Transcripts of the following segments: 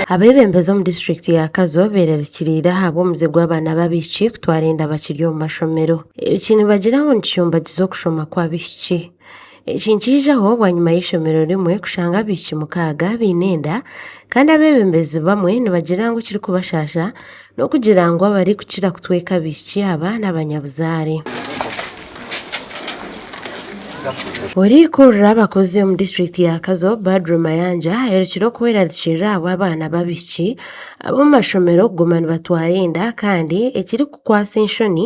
Abebembezi omu disiturikiti ya Kazo berarikiriire ahabw'omuze gw'abaana b'abaishiki kutwara enda bakiri omu mashomero. Eki nibagira ngu nikishumbagiza okushoma kw'abaishiki. Eki nikiijaho bwanyima y'eishomero rimwe kushanga abaishiki mukaaga baine enda, kandi abebembezi bamwe nibagira ngu ekirikubashaasha N'okugira ngu abarikukira kutweka abaishiki aba n'abanyabuzaare. Orikurira abakozi omu disiturikiti ya Kazo, Badru Mayanja aherukire okwerarikirira ahabw'abaana b'abaishiki ab'omu mashomero kuguma nibatwara enda kandi ekirikukwatsa enshoni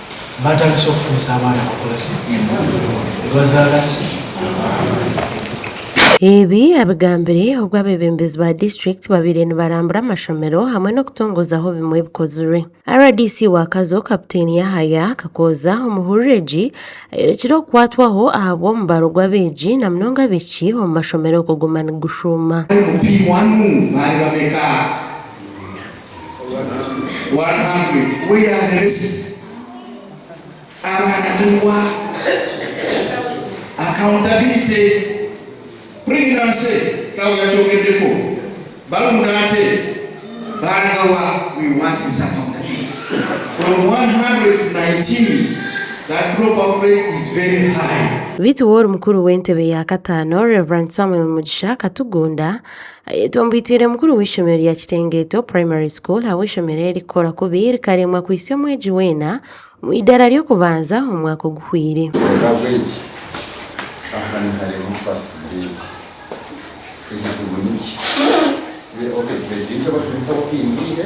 Baatandise okufunisa abaana bakora ki? Nibazaara ki? Embuto. Ebi abigambire obwo abeebembezi ba disiturikiti babaire nibarambura amashomero hamwe n'okutongoozaho bimwe ebikozirwe. Rdc wa Kazo, Kaputeeni Yahaya Kakooza omu hurira egi, ayorekire okukwatwaho ahabw'omubaro gw'abeegi na munonga abaishiki omu mashomero kuguma nigushuuma. Abari mu P-one baari bameka? Beitu woori mukuru w'entebe ya kataano Rev Samuel Mugisha Katugunda Ayetwa Mbitwire mukuru w'eishomero rya Kitengeeto Primary School ahabw'eishomero eri kukora kubi rikaremwa kwitsya omwegi weena omu idaara ry'okubanza omwaka oguhweire. Oravegi, Aha nihareebwa first grade. Ekizibu niki? Oravegi, Ni abashomesa abakuhindwire?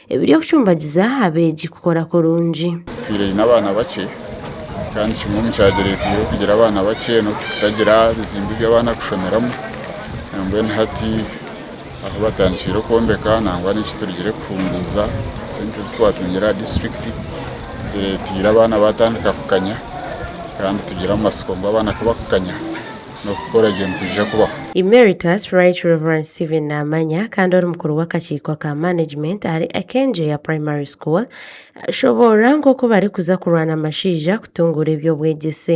Ebiry'okucumbagiza abeegi kukora kurungi. Twine abaana bakye kandi kimwe omu kyagireteire okugira abaana bakye n'okutagira bizimbe ebi abaana kushomeramu mbwenu hati ahu batandikiire okwombeka nangwa n'eki turugire kuhunguza sente ezi twatungire aha disiturikiti zireteire abaana batandika kukanya kandi tugire amatsiko ngu abaana ku bakukanya n'okukora gye nikwija kubaho. Emeritus Right Rev. Stephen Namanya kandi ori mukuru w'akakiiko ka management ahari Akengyeya Primary School ashoboorora nk'oku barikuza kurwana amashaija kutunguura eby'obwegyese.